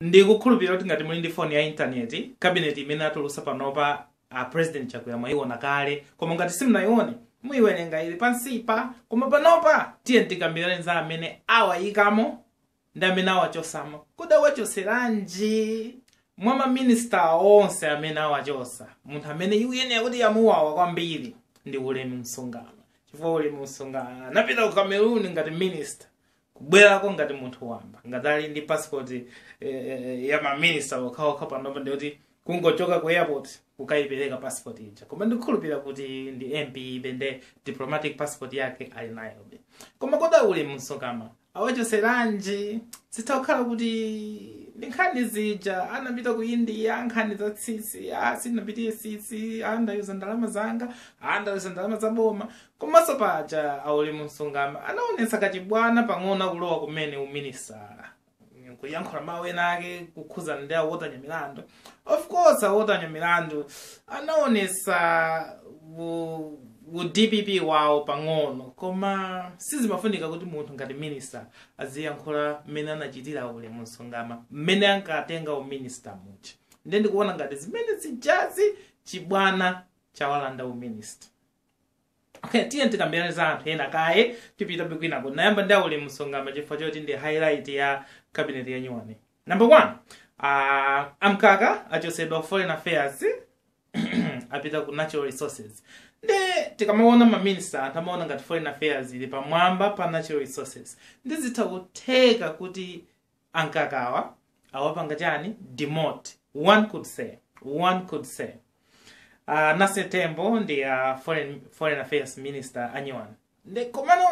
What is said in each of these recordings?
Ndikukhulupilira kuti ngati muli ndi foni ya intaneti, kabineti imene atulusa panopa a President Chakwera mwaiona kale, koma ngati simunayione, muyiwerenga ili pansipa, koma panopa tiyeni tikambirane za amene awayikamo ndi amene awachotsamo. Kodi awachotseranji? Mwa ma minister onse amene awachotsa, munthu amene ikuyenera kuti yamuwawa kwambiri ndi Ulemu Msungama, chifukwa Ulemu Msungama anapita ku Cameroon ngati minister, kubwerako ngati munthu wamba ngati ali ndi passport eh, eh, ya maminista okhaokha panopa ndiye kuti kungochoka ku airport kukayipereka passport ija koma ndikukhulupirira kuti ndi MP-be nde diplomatic passport yake ali nayobe koma kodi a Ulemu Msungama awachotseranji zitha kukhala kuti ndi nkhani zija anapita ku india nkhani za tsitsi ah sindinapitire tsitsi ndayuza ndalama zanga sindinayuze ndalama za boma Komanso paja a Ulemu Msungama anaonetsa kachibwana pang'ono akulowa kumene uminista kuyankhula mawu ena ake kukhudzana ndi a Otanya Milandu of course a Otanya Milandu anaonetsa u, u dpp wawo pang'ono koma sizimafunika kuti munthu ngati minista aziyankhula mmene anachitira a Ulemu Msungama mmene ankatenga uminista muja nde ndikuona ngati zimene zijazi chibwana chawalanda uminista Okay, tiyeni tikambirane za anthu ena kaye tipite kwinako ndayamba ndi a Ulemu Msungama chifukwa choti nde highlight ya cabinet ya nyuwani number one uh, a Mkaka achotsedwa foreign affairs apita ku natural resources nde tikamaona maminista anthu amaona ngati foreign affairs ili pamwamba pa natural resources nde zitha kutheka kuti a Mkakawa awapanga chani demote one could say one could say a Nancy Tembo ndi uh, foreign, foreign affairs minister a nyuwani nde komano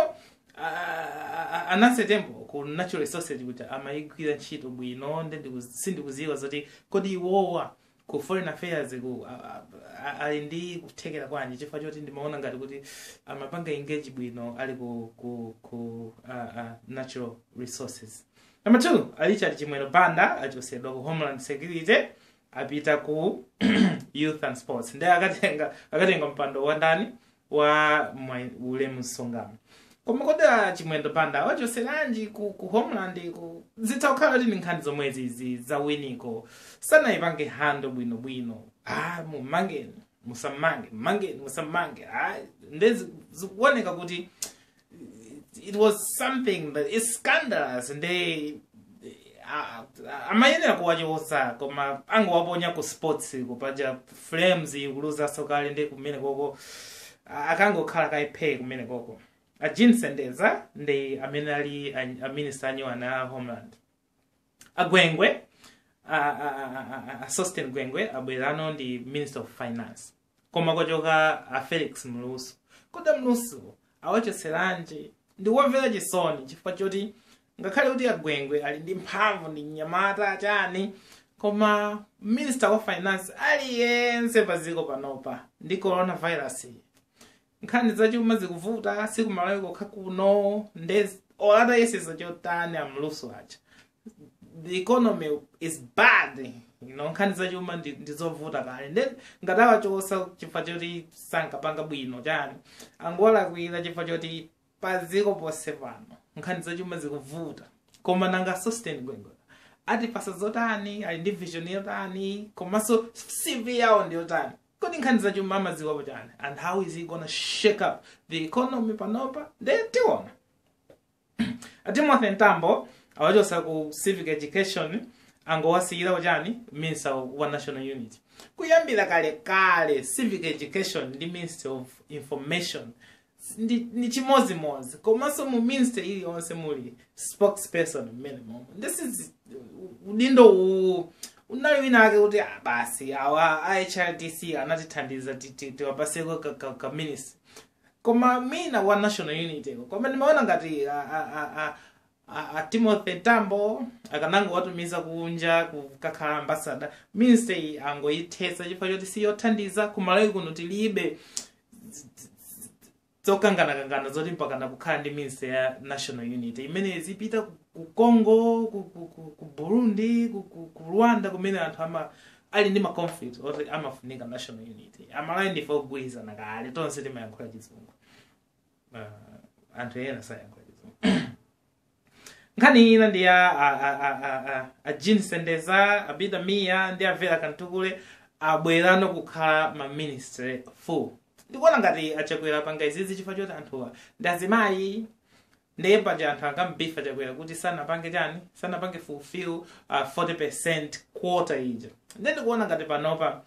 uh, a Nancy Tembo ku natural resources akuti amayigwira ntchito bwino ndi ndiku- sindikudziwa zoti kodi iwowa ku foreign affairs ku a- a- a- ali ndi kuthekera kwanji chifukwa choti ndimaona ngati kuti amapanga engage bwino ali ku, ku, ku a, a, natural resources number two a richard chimwendo banda achotsedwa ku homeland security apita ku youth and sports nde akatenga akatenga mpando wa ndani wa wa Ulemu Msungama koma kodi a chimwendo banda awachotseranji ku, ku homeland-ko zitha kukhala kuti ndi nkhani zomwe zizi za winiko sanayipange handle bwinobwino ah, mumangeni musammange mmangeni musammange ah, nde zi- zikuoneka kuti it, it was something that is scandalous and they a- a- amayenera kuwachosa koma angowaponya ku sports kuti paja flames ikuluzaso kale ndi kumene koko a- akangokhala kaiphe kumene koko a jean sendeza ndiye amene ali a- a minister anyowana a homeland agwengwe a- a- a- a- a- a sosten gwengwe abwerano ndi minister of finance koma kachoka a felix mlusu kodi mlusu awachotseranji ndikuwamvera chisoni chifukwa choti ngakhale kuti agwengwe ali ndi mphamvu ndi mnyamata chani koma minister wa finance aliyense pa dziko panopa ndi coronavirus iyi nkhani zachuma zikuvuta sikumalawi kokha kuno nde ola atayesetsa chotani amluso aja the economy is bad you know nkhani zachuma ndi ndi zovuta kale nde ngati awachosa chifukwa choti sankapanga bwino chani angowalakwira chifukwa choti paziko ponse pano nkhani zachuma zikuvuta koma nanga sosten gwengwe atipasa zotani ali ndi vision yotani komanso cv yawo ndi yotani kodi nkhani zachuma amadziwapo chani and how is he gonna shake up the economy panopa nde tiona atimothy mtambo awachosa ku civic education angowasiyira uchani minister wa national unity kuyambira kale kale civic education ndi minister of information ndi, ndi chimodzimodzi komanso mu ministry iliyonse muli spokesperson mmene momo ndiye udindo uwu unali wina ake kuti ah, basi awa a hrdc anatithandiza ti- ti- tiwapaseko ka, ka, ka ministry koma mwina wa national unity ko. koma ndimaona ngati a- a- a- a- a, a timothy mtambo akanangowatumiza kunja kukakhala ambasada ministry angoyithetsa chifukwa choti si yothandiza kumalawi kuno tilibe zokanganakangana zoti mpakana kukhala ndi ministry ya national unity imeneyo izipita ku- ku congo ku, ku, ku, ku burundi ku, ku, ku rwanda kumene anthu ama ali ndi maconflict oti amafunika national unity amalawi ndife ogwirizana kale tonse timayankhula chizungu uh, anthu ena sayankhula chizungu nkhani ina ndi ya a- a- a- a- a- a jean sendeza abida miya ndi avera kamtukule abwerano kukhala ma minister full ndikuona ngati achakwera apanga izizi chifukwa choti anthuwa ndi azimayi ndiye paja anthu ankamuba chakwera kuti sanapange chani sanapange fulfill uh, 40 quota ija ndiye ndikuona ngati panopa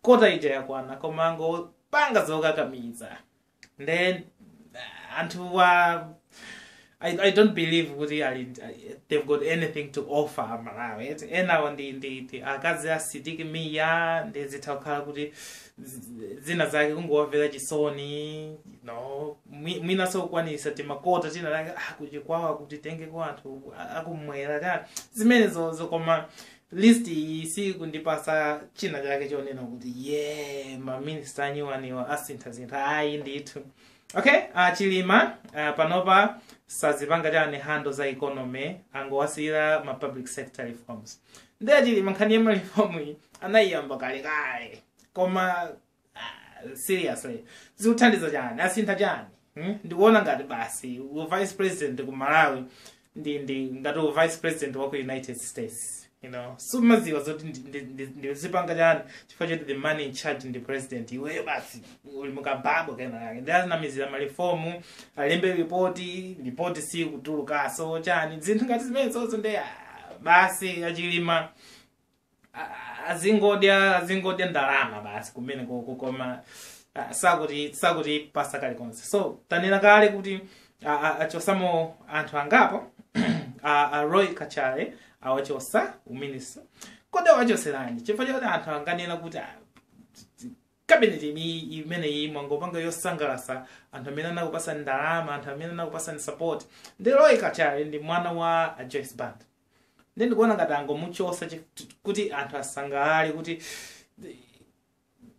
kota ija yakwana koma angopanga zokakamiza nde uh, anthu wa I, I don't believe kuti ali they've got anything to offer amalawi eti enawo ndi ndi ndi akazi a Sidik Mia nde zitha kukhala kuti zi- zina zake kungowamvera chisoni you know mwi- mwinanso kukwanisa timakota tina take ah, ku Chikwawa kuti titenge kwa anthu a- akumwera ta zimenezo zokoma list iyi sikundipasa china chake chonena kuti ye maminista anyuwaniwa asinthasintha ayi ndithu okay uh, chilima uh, panopa sazipanga chani handle za economy angowasiyira ma public sector reforms ndiye chilima nkhani ya malifomu iyi anayiyamba kalekale koma Ah, seriously zikuthandiza chani asintha chani hmm? ndikuona ngati basi u vice president ku malawi ndi ndi ngati u vice president wa ku united states you know sumaziwa zoti ndi- ndi- ndi- ndizipanga chani chifukwa choti the man in charge ndi president iweyo basi uli mukababo kenakake nde azinamizira malifomu alembe ripoti ripoti sikutulukaso chani zinthu ngati zimenezozo nde ah, basi achilima a- a- azingodya azingodya ndalama basi kumene koko koma ah, sakuti sakutipasa kalikonse so tanena kale kuti ah, ah, achosamo anthu angapo a a roy kachale awachosa uminista kodi awachoseranji chifukwa chakuti anthu anganena kuti ah, kabineti imi imeneyi mwangopanga yosangalasa anthu amene anakupasa ndalama anthu amene anakupasani support nde roy kachale ndi mwana wa a joyce band nde ndikuona ngati angomuchosa chi- t- kuti anthu asangalale kuti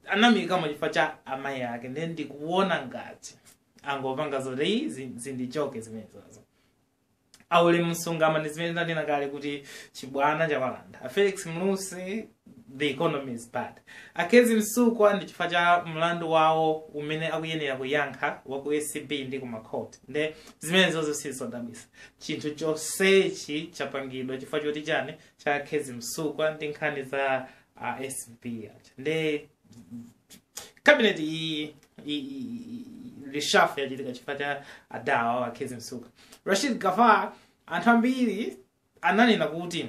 anamiyikamo chifukwa cha amayi ake nde ndikuona ngati angopanga zoti zi- zindichoke zimenezozo a ulemu msungama ndi zimene ndanena kale kuti chibwana chawalanda a felix mlusi the economy is bad a kezzie msukwa ndi chifukwa cha mlandu wawo umene akuyenera kuyankha wa ku acb ndi kumakhoti nde zimenezo zosizodabwisa chinthu chonsechi chapangidwa chifukwa choti chani cha a kezzie msukwa ndi nkhani za uh, acb aja nde kabineti iyi i- i- i- reshuffle yachitika chifukwa cha adawa a kezzie msukwa rashid gaffar anthu ambiri ananena kuti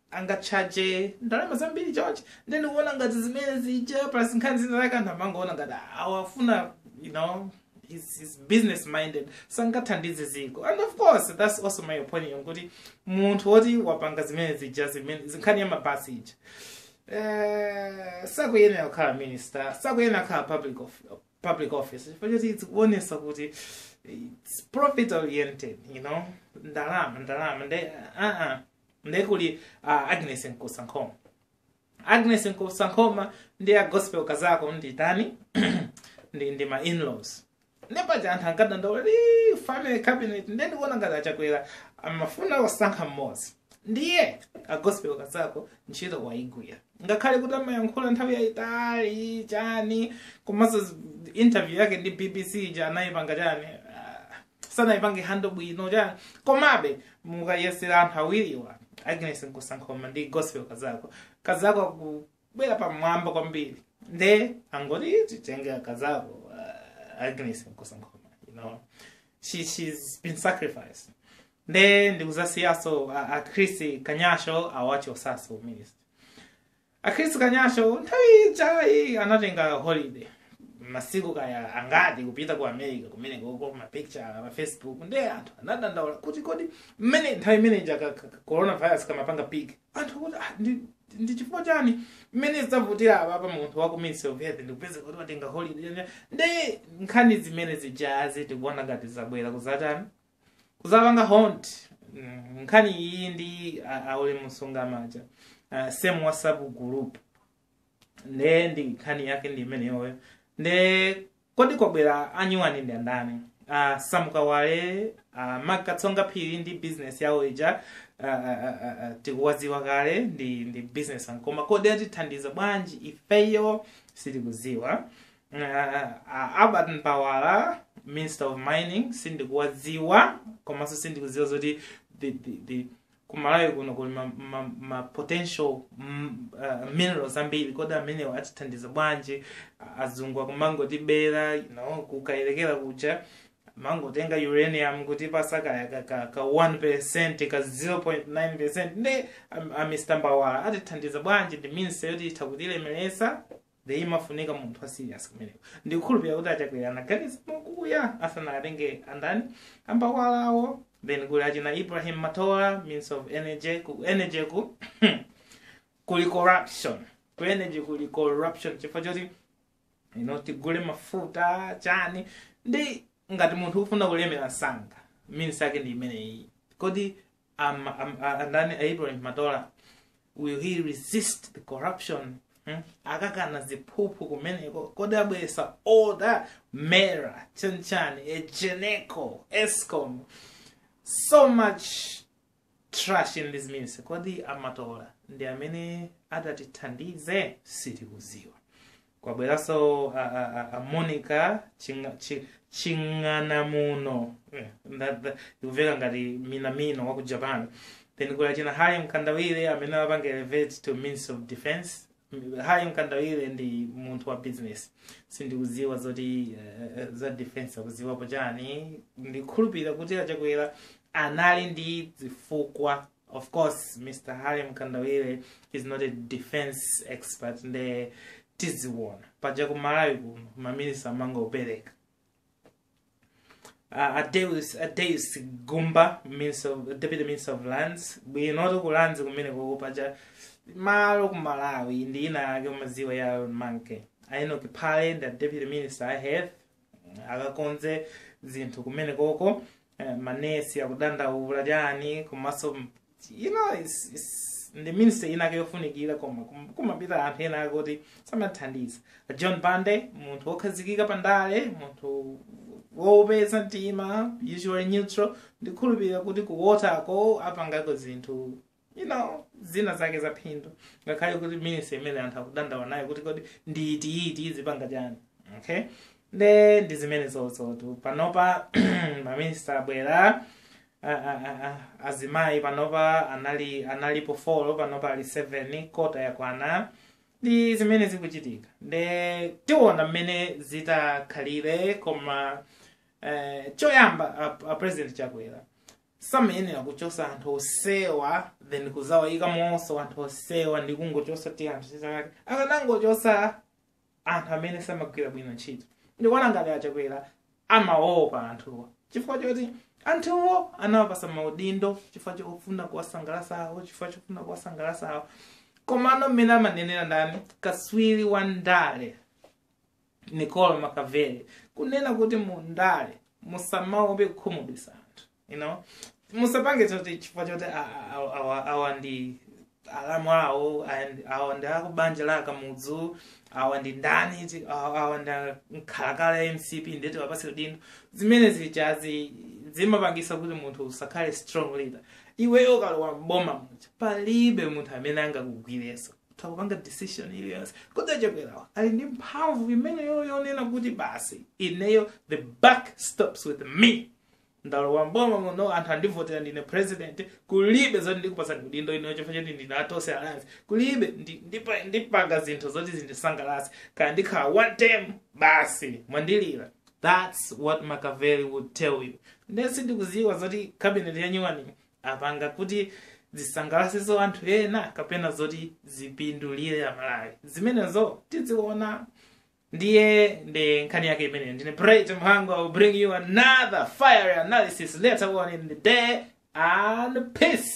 angatchaje ndalama zambiri chonchi nde ndikuona ngati zimene zija plus nkhani zina zake anthu amangoona ngati awafuna you know he's, he's business minded sangathandize ziko and of course that's also my opinion kuti munthu woti wapanga zimene zija zimene zinkhani ya mabasi ija eh, sakuyenera kukhala minister sakuyenera kukhala public, of, public office chifukwa choti zikuonesa kuti it's profit oriented you know ndalama ndalama nde uh -uh. nde kuli uh, agnes nkusa nkhoma agnes nkusa nkhoma ndi a gospel kazako ndi atani ndi, ndi ma inlaws nde paja anthu ankadandaula ndi family cabinet nde ndikuona ngati achakwera amafuna kusankha mmodzi ndiye a gospel kazako ntchito wayigwira ngakhale kuti amayankhula nthawi yayitali chani komanso interview yake ndi bbc ija anayipanga chani sanaipange handle bwino chani komabe mukayeza anthu awiriwa agnes nkusankhoma ndi gospel kazako kazako akubwera pamwamba kwambiri nde angoti titenge kazako uh, agnes nkusankhoma you know she, she's been sacrificed nde ndikuzasiyanso a, a chris kanyasho awachotsanso u minister A Chris Kanyasho nthawi ija anatenga holiday masiku kaya angati kupita ku America kumene koko ma picture pa Facebook nde anthu anadandaula kuti kodi mmene nthawi imene ija ka- ka- ka- coronavirus kamapanga peak anthu kuti ah, ndi ndi chifukwa chani mmene zinthu zavutira apapa munthu wa ku Ministry of Health ndikupeza kuti watenga holiday nde nkhani zimene zijazi tikuona ngati zabwera kuzatani kuzapanga haunt mm, nkhani iyi ndi a- a ulemu msungama aja uh, some whatsapp group nde ndi nkhani yake ndi imeneyoyo nde kodi kwabwera a nyuwani ndi andani uh, sam kawale uh, mark katsonga phiri ndi business yawo ija uh, uh, uh, uh, tikuwadziwa kale ndi ndi businessman koma kodi atithandiza bwanji ifeyo sitikuziwa uh, albert mbawala minister of mining sindikuwadziwa komanso ndikudziwa zoti the, the, the kumalawi kuno kuli ma, ma, ma potential mm, uh, minerals ambiri kodi amenewo atithandiza bwanji A- azungu akumangotibera you know, kukayerekera kuja kumangotenga uranium kutipatsa kaya ka, ka, ka 1 percent ka 0.9 percent nde a, a mr mbawala atithandiza bwanji ndi ministry yoti itha kutilemeresa nde imafunika munthu wa serious kumeneko ndikukhulupirira kuti achakwera anaganiza mokuya asanatenge andani ambawalawo then kuli achina ibrahim matola ministry of energy ku energy ku kuli corruption ku energy kuli corruption chifukwa choti you know tigule mafuta chani ndi ngati munthu ukufuna kulemera msanga ministry yake ndi imeneyi kodi am, am, a- ndani a Ibrahim Matola will he resist the corruption hmm? akakana ziphuphu kumeneko kodi abweretsa order mera chanichani egenco escom so much trash in this ministry kodi amatola ndi amene atatithandize sitikuziwa kwabweranso a, a, a, a monica Chinga- Cha- chang'anamuno Eh, nda- nda- ikuveka ngati mina mina wa ku japan then kuli achina harry mkandawire amene amupanga elevate to minister of defense M- harry mkandawire ndi munthu wa business sindikuziwa zoti eh, za defense akuziwapo chani ndikhulupirira kuti achakwera anali ndi zifukwa of course mr harry mkandawire is not a defense expert nde tiziwona paja ku malawi kuno maminisita amangopereka uh, a deus a deus gumba minister of, deputy minister of lands bwinotu ku lands kumene koko paja malo ku malawi ndi inayake umaziwa ya manke a enock phale ndi deputy minister a health akakonze zinthu kumene koko eh, manesi akudandaula chiyani komanso you know it's, it's, ndi ministry inake yofunikira koma kum- kumapita anthu enaake kuti samathandiza john bande munthu wokhazikika pa ndale munthu wofatsa mtima usually neutral ndikhulupirira kuti ku water ko apangako zinthu you know zina zake za phindu ngakhale kuti ministry imene anthu akudandaula nayo kuti kodi ndi iti iti izipanga chani okay nde ndi zimene zozotu panopa maminista abwera a- a- a- a- azimayi panopa anali analipo folo panopa ali 7 kota yakwana ndi zimene zikuchitika nde tiona mmene zitakhalire koma eh, choyamba a, a president chakwera samayenera kuchosa anthu osewa then kuzawayikamonso anthu osewa ndi kungochosa ti anthu chisakati akanangochosa anthu amene samagwira bwino ntchito ndikuona ngati achakwera amaopa anthuwa chifukwa choti anthuwo anawapasa maudindo chifukwa chofuna kuwasangalasa awo chifukwa chofuna kuwasangalasa awo komano mmene amanenera ndani kaswiri wa ndale niccolo machiavelli kunena kuti mundale musamaope kukhumudwisa anthu you know musapange choti chifukwa choti a- a- a- awa- awa ndi alamu awo and awa ndi akubanja la akamudzu awa ndi ndani ti- awa awa ndi mkhalakale wa mcp nde tiwapase udindo zimene zijazi zimapangisa kuti munthu usakhale strong leader iweyo ukalowa mboma muja palibe munthu amene angakugwireso ukupanga decision iliyonse kodi achakwerawa ali ndi mphamvu imeneyo yonena kuti basi ineyo the buck stops with me ndalowa mboma muno anthu andivotera ndine president kulibe zoti ndikupasani udindo ineyo chifukwa choti ndine a tonse alliance kulibe ndi- ndipa- ndipanga zinthu zoti zindisangalatse kaya ndikhala one term basi mwandivotera that's what machiavelli would tell you nde sindikuziwa zoti cabinet yanyuwani apanga kuti zisangalatse anthu ena kapena zoti zipindulire amalawi zimenezo tiziona ndiye ndi nkhani yake imeneyo ndine Bright Mhango will bring you another fiery analysis later on in the day and peace